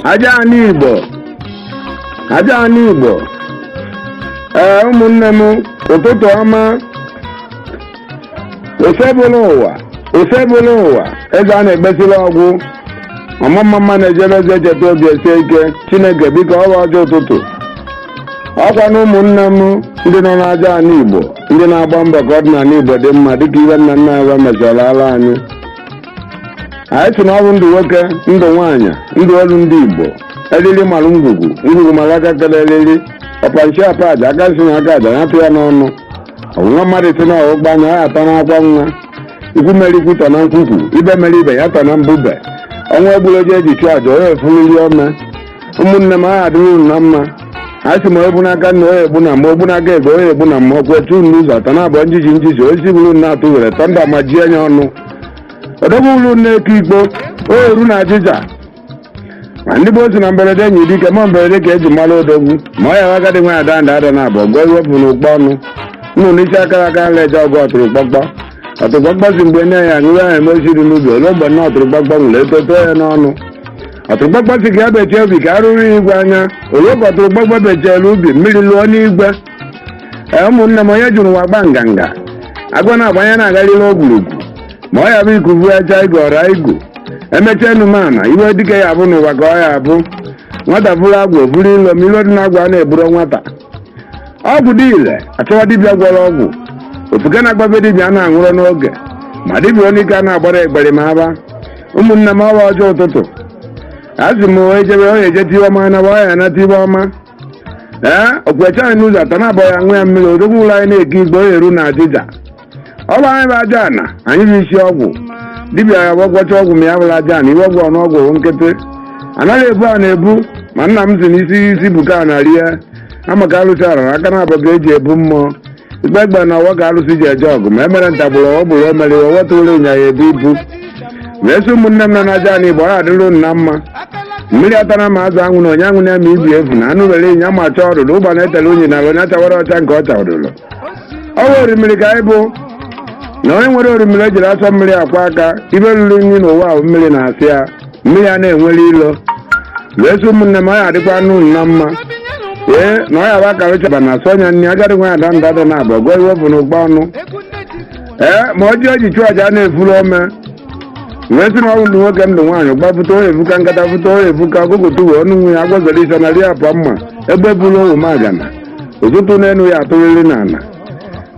aja anị igbo aja anị igbo ee ụmụnne m ụtụtụ ọma osebụlụwa osebụlụwa eze a na-egbesila ọgwụ ọmụmma mma na-ejere eze echeta obi esie ike chineke biko ọ bụ ọjị ụtụtụ ọkwa na ụmụnne m ndị nọ n'aja anị igbo ndị na-agba mbọ ka ọdịnanị igbo dị mma dịka ihe nna nna fa mechara ala anyị anyị sị na ọ bụ ndụ nwoke ndụ nwaanyị ndụ olu ndị igbo eriri mara ngwugwu ngwugwu mara aka kere eriri ọpa nshị apa aja aka nshị na aka aja nyatụ ya n'ọnụ ọ bụ nwa mmadụ sị na ọgbụgba anya ya ata n'akwa nwa ikwu mere ikwu tọ na nkwukwu ibe mere ibe ya tọ na mbube ọnwa egburu ji eji chụọ aja ya efuriri ome ụmụnne m ọ ya adịrị unu na mma a sị ma egbu n'aka nna onye egbu na mma ogbu n'aka ebe onye egbu na mma ọkwa etu unu ụzọ atọ na-abụọ njiji njiji osisi bụrụ unu na-atụ were tọnda ma ji enye ọnụ odogwu ụlọ na-eke igbo o eru na ajịja ma ndị gboo sị na mberede nyiri dike ma mberede ka eji amara odogwu ma ọ ya agadi nwaanyị daa nda ada naabọ a gụọ iwe o bu n'ukpa ọnụ nnụnụ isi akara aka ana eje ọgụ ọtụrụkpọkpọ ọtụrụkpọkpọ sị mgbe nne ya nwụrụ ya eme osisi dị n'ubi ole mgbe nna ọtụrụkpọkpọ nwụrụ etuto too ya n'ọnụ ọtụrụkpọkpọ sị ka e bechie ubi ka arụrụ ya igwe anya ole ka ọtụrụkpọkpọ bechela ubi mmiri lụọ n'igwe ee ụmụnne m onye jiri ụwa gba nganga agwa na-agbanye na-agarịrị ogwurugwu ma ọ ya bụ iku vuo aja igu ọra igu emechaa unu amana iwe dike ya bụ n'ụwa ka ọ ya bụ nwata buru agwọ buru ilo ma ilo dị n'agwọ a na-eburo nwata ọgwụ dị ile achọwa dibịa gwọrọ ọgwụ ofuke na-agbabe dibịa na-aṅụrọ n'oge ma dibịa onye ike a na-agbara egbere ma aba ụmụnne m ọ bụ ọjị ụtụtụ asị m wee jebe onye ejete iwe ọma na ọ ya anata iwe ọma ee okwecha anyị n'ụzọ atọ na-abọ ya ṅụ ya mmiri odogwu ụlọ anyị na-eke igbo onye eru na ajịja ọ bụ anyị bụ aja ana anyị bụ isi ọgwụ dibịa ya gwọcha ọgwụ ma ya bụrụ aja ana iwe ọgwụ ọnụ ọgwụ wụ nkịtị anaghị ebu ana ebu ma nna m si n'isi isi buka a na rie ama ka alụsị arara aka na abụba eji ebu mmụọ ikpe egbe na ọfọ ka alụsị ji eje ọgụ ma emere ntagbụrụ ọ bụrụ emere iwe wetụrụ ịnyịnya ebu ibu ma esi ụmụnne m nọ n'aja ana igbo ọ adịrụ unu na mma mmiri atara ma azụ anwụ na onye anwụ na-eme ibi efu na anụ were ịnya ma chọọ ọdụdụ ugbana etele unyi na onye achawara ọcha nke ọ chawadụrụ ọ bụ orimiri ka anyị bụ na onye nwere orimiri ejirọ asọ mmiri akwọ aka iwe riri nri n'ụwa aṅụ mmiri na azụ ya mmiri a na-enwere ilo wee sị ụmụnne m ọ ya adịkwa unu na mma ee na ọ ya bụ akara chaba na asọ ọnya nri agadi nwaanyị daa nda ada naabọ a gụọ iwe o bu n'ukpa ọnụ ee ma ọ ji eji chụọ aja na-efuru ome wee sị na ọ bụ ndụ nwoke ndụ nwaanyị gbapụta onye efuka nkata fụta onye efuka ọgụgụ tuwe ọnụ nwe ya agwazere isa na ri apụ mma egbe buru owu magana ụtụtụ n'elu ya atụrịrị n'ala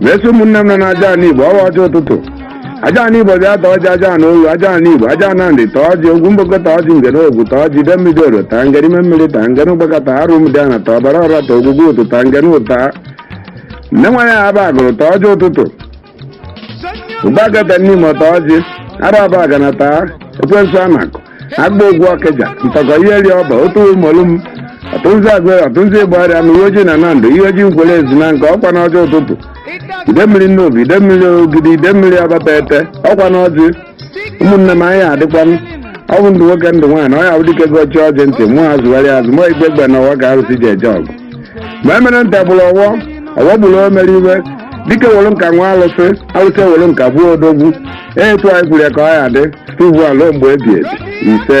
mesi ụmụnne m nọ na aja ana igbo ọwa ọjị ụtụtụ aja ana igbo bịa taa ọjị aja ana oru aja ana igbo aja ana nri taa ọjị ogwu mgboko taa ọjị ngere ogwu taa ọjị ide mmiri oro taa ngere ime mmiri taa ngere ụgbaka taa arụ m dị ana taa ọbara ọra taa ogwugwu ụtụ taa ngere ụta nne nwa ya aba agụlụ taa ọjị ụtụtụ ụbagada n'ime taa ọjị araba agana taa ekwensu anakụ agba ogwu ọkịja ntọkọ ihe ri ọba otu ụmụlụ m ọtụnzi agụrụ ọtụnzi igbariam na iyi ojii na nando iyi ojii nkwere ezunaka ọkwa n'ọjị ụtụtụ ide mmiri nnobi ide mmiri ogidi ide mmiri abatete ọkwa n'ọjị ụmụnne m anyị adịkwa ma ọ bụ ndụ nwoke ndụ nwaanyị ọ ya bụ dike gọchi ọjị ntị mụ azụgharị azụ mụ igbe egbe na ọwa ka arụsị ji eje ọgụ ma emere nta bụrụ ọwọ ọwọ gburu o mere iwe dike were nka nwaa alụsị alụsị were nka gbuo odogwu etu anyị kwuru ya ka ọ ya dị site ugbu a luo mgbe ebi ebi ise